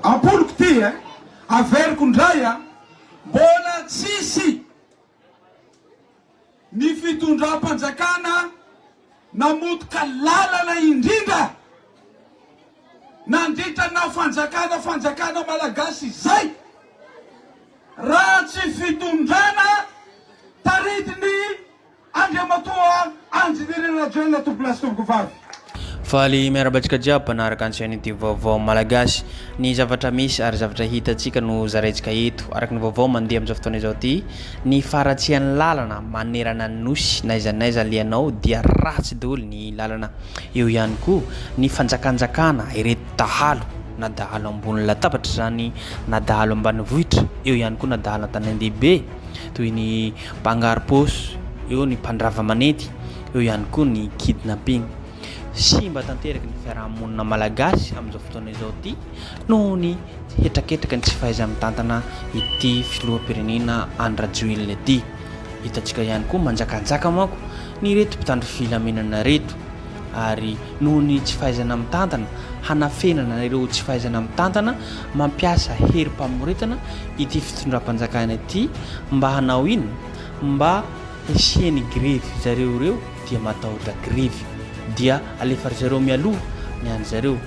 Ampoliko ty e! Averiko ndray a! Mbola tsisy ny fitondram-panjakana namotika lalana indrindra nandritra na fanjakana fanjakana malagasy izay raha tsy fitondrana taritin'ny Andriamatoa Engineer Rajoelina Tobilas Tovovavy. Faly miarahaba antsika jiaby mpanaraka ny chaîne youtube Vaovao Malagasy. Ny zavatra misy ary zavatra hitantsika no zaraintsika eto. Araka ny vaovao mandeha amin'izao fotoana izao ity, ny faharatsian'ny lalana manerana ny Nosy, n'aiza n'aiza alehanao dia ratsy daholo ny lalana. Eo ihany koa ny fanjakanjakana ireto dahalo, na dahalo ambony latabatra izany na dahalo ambanivohitra, eo ihany koa na dahalo an-tanandehibe toy ny Mpangarom-paosy, eo ny mpandrava manenty, eo ihany koa ny kidnapping. Simba tanteraka ny fiaraha-monina malagasy amin'izao fotoana izao ity noho ny hetraketraky ny tsy fahaiza-mitantana ity filoham-pirenena Andry Rajoelina ity. Hitantsika ihany koa manjakanjaka manko ny ireto mpitandro filaminana ireto. ary noho ny tsy fahaizana mitantana, hanafenana ireo tsy fahaizana mitantana, mampiasa hery mpamoretana ity fitondram-panjakana ity mba hanao inona? Mba hisian'ny grevy zareo ireo dia matahotra grevy dia alefa ry zareo mialoha ny an-dry zareo.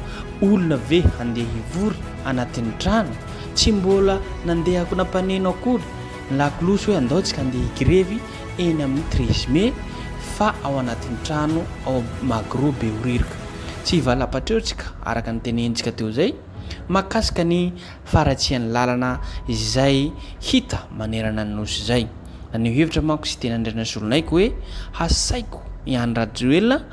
Olona ve handeha hivory anatin'ny trano? Tsy mbola nandeha nampaneno akory ny lakolosy hoe andao tsika handeha higrevy. eny amin'ny treize mai fa ao anatin'ny trano ao Magro Behoririka. Tsy hivalampatra eo tsika araka ny tenenintsika teo izay mahakasika ny faharatsian'ny lalana izay hita manerana ny Nosy izay. Naneho hevitra manko Siteny Andrianazolonaiky hoe hasaiko i Andry Rajoelina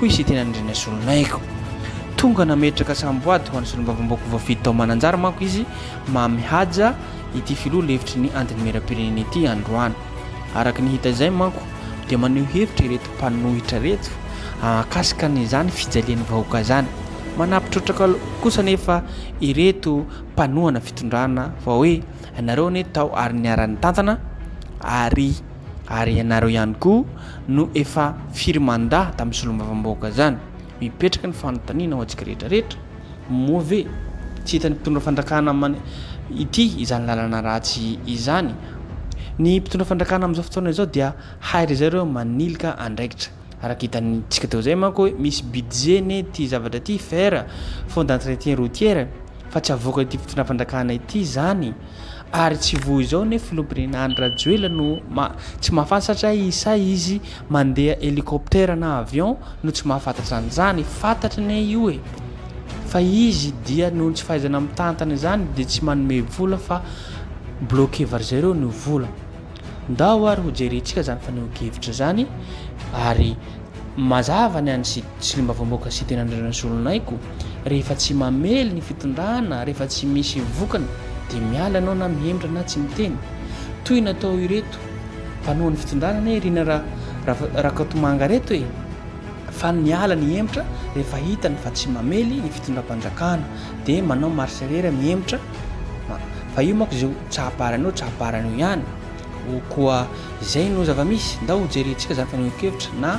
hoy i Sitenandriana Solonaigo. Tonga nametraka samboady ho an'ny solombavambaoko voafidy tao Mananjary manko izy Mamy Haja, ity filoha lefitry ny Antenimierampirenena ity androany. Araka ny hita izay manko dia maneho hevitra ireto mpanohitra ireto mahakasika an'izany fijalian'ny vahoaka izany. Manampy trotraka kosa anefa ireto mpanohana fitondrana fa hoe ianareo anie tao ary niara-nitantana ary Ary ianareo ihany koa no efa firy mandat tamin'ny solombavambahoaka zany? Mipetraka ny fanontaniana ho antsika rehetra rehetra, moa ve tsy hitan'ny mpitondra fandrakana man ity izany lalana ratsy izany? Ny mpitondra fandrakana amin'izao fotoana izao dia hay ry zareo manilika andraikitra. Araka hitantsika teo izay manko hoe misy budget ne ity zavatra ity, fer, fonds d'entretien routier, fa tsy avoaka ity fitondrana fanjakana ity izany ary tsy voa izao ne filoham-pirenena Andry Rajoelina no ma, tsy mahafantatra satria isa izy mandeha hélicoptère na avion no tsy mahafantatra an'izany, fantatry ne io e! fa izy dia noho ny tsy fahaizana mitantana izany dia tsy manome vola fa bloqué var'izay ireo ny vola. Ndao ary hojerentsika izany fanehoan-kevitra izany ary mazava ny an'i Solombavambahoaka Siteny Andrianazolonaigo, rehefa tsy mamely ny fitondrana, rehefa tsy misy vokany dia miala ianao na mihemitra na tsy miteny. Toy ny atao ireto mpanao ny fitondrana anie ry na Rakotomanga reto e! fa miala ny hemitra rehefa hitany fa tsy mamely ny fitondram-panjakana dia manao marche arrière mihemotra. Ah, fa io manko izay tsahaparany eo, tsahaparany eo ihany. O, koa izay no zava-misy, ndao hojerentsika izany fanehoan-kevitra na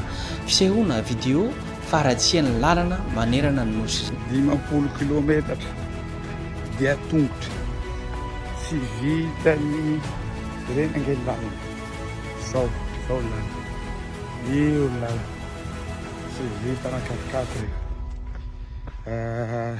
fisehoana, video, faharatsian'ny lalana manerana ny Nosy izany. Dimampolo kilometatra dia tongotra, tsy vitan'ny ireny ange lalana zao, zao lalana, io ny lalana, tsy vitan'ny quatre-quatre io. Ah,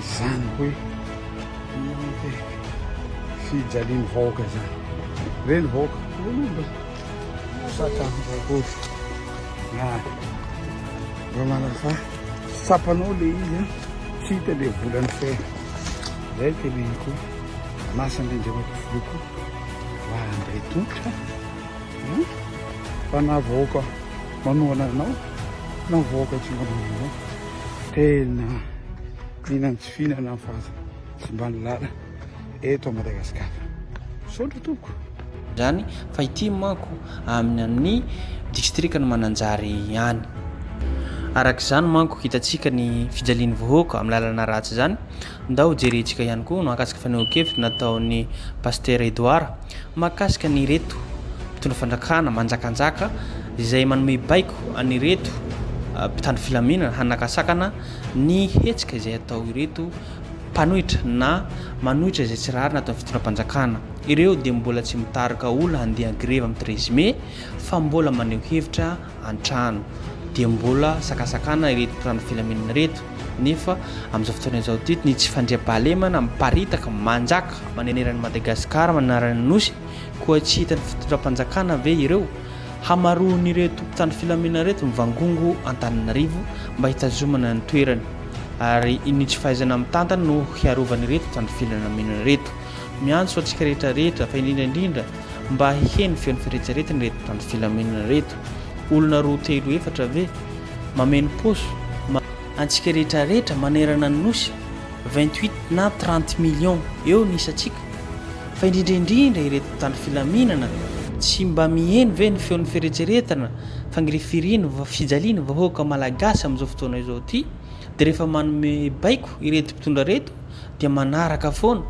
Izany hoe fijalian'ny vahoaka izany. Ve ny vahoaka? Sata akory. Na vao manasa tsapanao le izy an, tsy hita le volany fe. Zay telehiko. Anasa Andriandriamatoa Filoha koa mba handray tongotra. Fa na vahoaka manohana anao, na vahoaka tsy manohana anao. Tena liana ny tsy fihinana ny fahasimban'ny lala eto Madagasikara. Misaotra tompoko. Izany fa ity manko amin'ny amin'ny distrikan'i Mananjary ihany. Araka izany manko hitantsika ny fijalian'ny vahoaka amin'ny lalana ratsy izany Ndao jerentsika ihany koa no ankasika fanehoan-kevitra nataon'i Pasitera Edouard mahakasika an'ireto mpitondra fandrakana manjakanjaka izay manome baiko an'ireto mpitandro filaminana hanakasakana ny hetsika izay atao ireto mpanohitra na manohitra izay tsy rariny ato amin'ny fitondram-panjakana. Ireo dia mbola tsy mitarika olona handeha an-grevy amin'ny treize mai fa mbola maneho hevitra an-trano dia mbola sakasakana ireto mpitandro filaminana ireto nefa amin'izao fotoana izao ity ny tsy fandriampahalemana miparitaka manjaka manerana an'i Madagasikara manarana ny Nosy koa tsy hitan'ny fitondram-panjakana ve ireo hamaroan'ireto mpitandro filaminana ireto mivangongo Antananarivo mba hitazomana ny toerany ary iny tsy fahaizana mitantana no hiarovan'ireto mpitandro filaminana ireto miantso antsika rehetra rehetra fa indrindra indrindra mba hiheno feon'ny fieretseretana ireto mpitandro filaminana ireto. Olona roa telo efatra ve? Mameno paosy ma. Antsika rehetra rehetra manerana ny nosy, vingt huit na trente millions eo ny isantsika, fa indrindra indrindra ireto mpitandro filaminana, tsy mba miheno ve ny feon'ny fieretseretana, fangirifiriana, fijaliana vahoaka malagasy amin'izao fotoana izao ity, dia rehefa manome baiko ireto mpitondra ireto, dia manaraka foana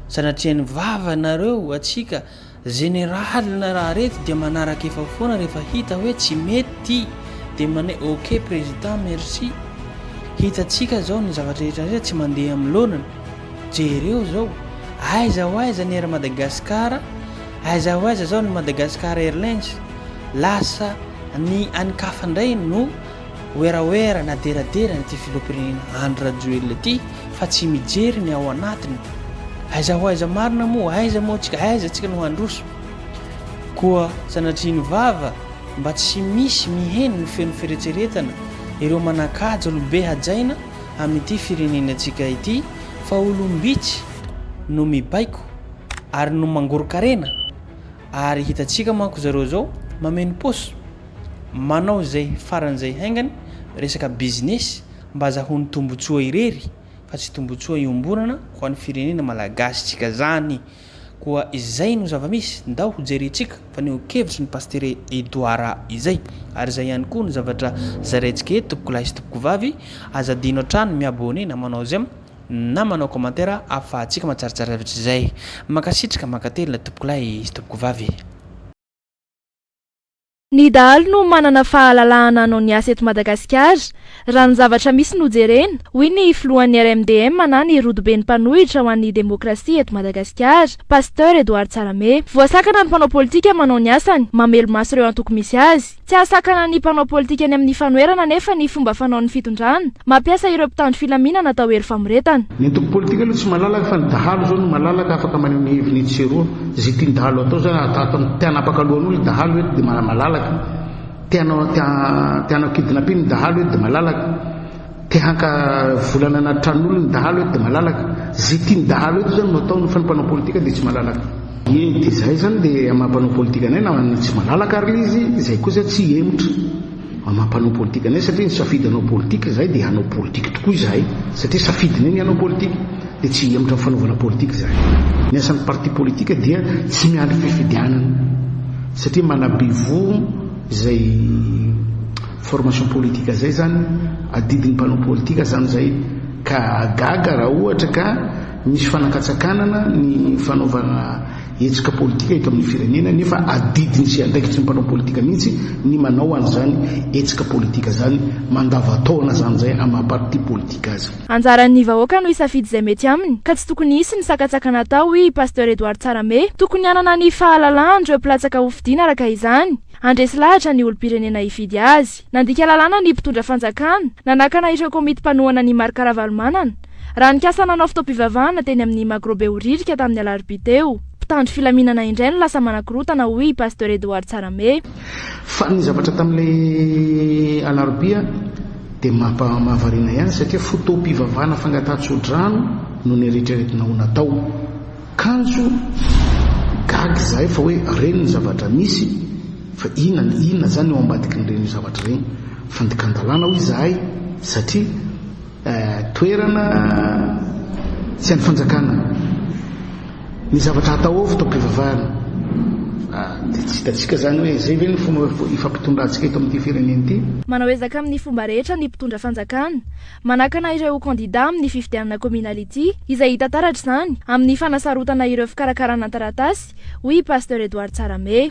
sanatria ny vava nareo atsika zeneraly na raha rety dia manaraka efa foana rehefa hita hoe tsy mety ty dia mane ok president merci hitatsika zao ny zavatra rehetra rehetra tsy mandeha amin'ny lonany jereo zao aiza ho aiza ny air madagascar aiza ho aiza zao ny madagascar airlines lasa ny any kafa indray no Werawera na deradera ny ity filoham-pirenena Andry Rajoelina ity fa tsy mijery ny ao anatiny. Aiza ho aiza marina moa? Aiza moa tsika? Aiza tsika no handroso? Koa sanatria ny vava mba tsy misy miheno ny feon'ny fieretseretana ireo manan-kaja olobe hajaina amin'ity firenena antsika ity fa olom-bitsy no mibaiko ary no mangoron-karena Ary hitantsika manko zareo zao mameno paosy manao zay faran'izay haingana resaka business mba azahoany tombotsoa irery fa tsy tombotsoa iomborana ho an'ny firenena malagasy tsika zany koa izay no zavamisy ndao ho jerentsika faneho kevitry ny pastere Edouard izay ary zay ihany koa no zavatra zaraintsika eto mpikolahy sy tompokovavy aza adino hatrany mi abonner na manao j'aime na manao commentaire ahafahantsika matsaratsara zavatra izay. Mankasitraka, mankatelina tompokolahy sy tompokovavy. Ny dahalo no manana fahalalahana hanao ny asa eto Madagasikara, raha ny zavatra misy no jerena, hoy ny filohan'ny RMDM na ny rodoben'ny mpanohitra ho an'ny demokrasia eto Madagasikara, Pasteur Edouard Tsarame. Voasakana ny mpanao politika manao ny asany, mamelo-maso ireo antoko misy azy. Tsy ahasakana ny mpanao politika ny amin'ny fanoherana anefa ny fomba fanaon'ny fitondrana, mampiasa ireo mpitandro filaminana atao hery famoretana. Ny antoko politika aloha tsy malalaka fa ny dahalo izao no malalaka afaka maneho ny heviny etsy sy eroa. Izay tian-dahalo atao izany ary tahaka ny te hanapaka lohan'olona i dahalo eto dia malalaka. Te hanao te hanao kidnapping ny dahalo eto dia malalaka. Te haka volana anaty tranon'olona ny dahalo eto dia malalaka. Izay tian'ny dahalo eto izany no ataony fa ny mpanao politika dia tsy malalaka. Eny dia izay izany dia amin'ny maha mpanao politika anay na ny tsy malalaka ary ilay izy izay kosa tsy hihemotra amin'ny maha mpanao politika anay satria ny safidy hanao politika izahay dia hanao politika tokoa izahay satria safidinay ny hanao politika dia tsy hihemotra amin'ny fanaovana politika izahay. Ny asan'ny parti politika dia tsy miandry fifidianana satria manabe voho izay Formation politique zay zany adidin'ny mpanao politika zany zay ka gaga raha ohatra ka misy fanakatsakanana ny fanaovana hetsika politika eto amin'ny firenena nefa adidiny sy andraikitry ny mpanao politika mihitsy ny manao an'izany hetsika politika zany mandavataona zany zay amin'ny maha parti politika azy. Anjaran'ny vahoaka no hisafidy izay mety aminy ka tsy tokony hisy ny sakatsakana atao hoy i Pasteur Edouard Tsarame. Tokony hanana ny fahalalahan'ireo mpilatsaka hofidiana araka izany. Handresy lahatra ny olom-pirenena hifidy azy. Nandika lalàna ny mpitondra fanjakana, nanakana ireo komity mpanohana an'i Marc Ravalomanana, raha nikasa nanao fotoam-pivavahana teny amin'ny Magro Behoririka tamin'ny alarobia teo. Mpitandro filaminana indray no lasa manakorontana, hoy i Pasteur Edouard Tsarame. Fa ny zavatra tamin'ilay alarobia dia mahavariana ihany satria fotoam-pivavahana fangatahan-tsodrano no neritreretina ho natao. Kanjo gaga izahay fa hoe reny ny zavatra misy fa inona ny inona zany eo ambadiky ny reny zavatra reny? Fandikan-dalàna hoy izahay satria toerana tsy an'ny fanjakana ny zavatra hatao ao fotoam-pivavahana dia tsy hitantsika zany hoe zay ve ny fomba ifampitondrantsika eto amin'ity firenena ity? Manao ezaka amin'ny fomba rehetra ny mpitondra fanjakana manakana ireo kandidà amin'ny fifidianana kaominaly ity, izay hita taratra izany amin'ny fanasarotana ireo fikarakarana ny taratasy, hoy i Pasteur Edouard Tsarame.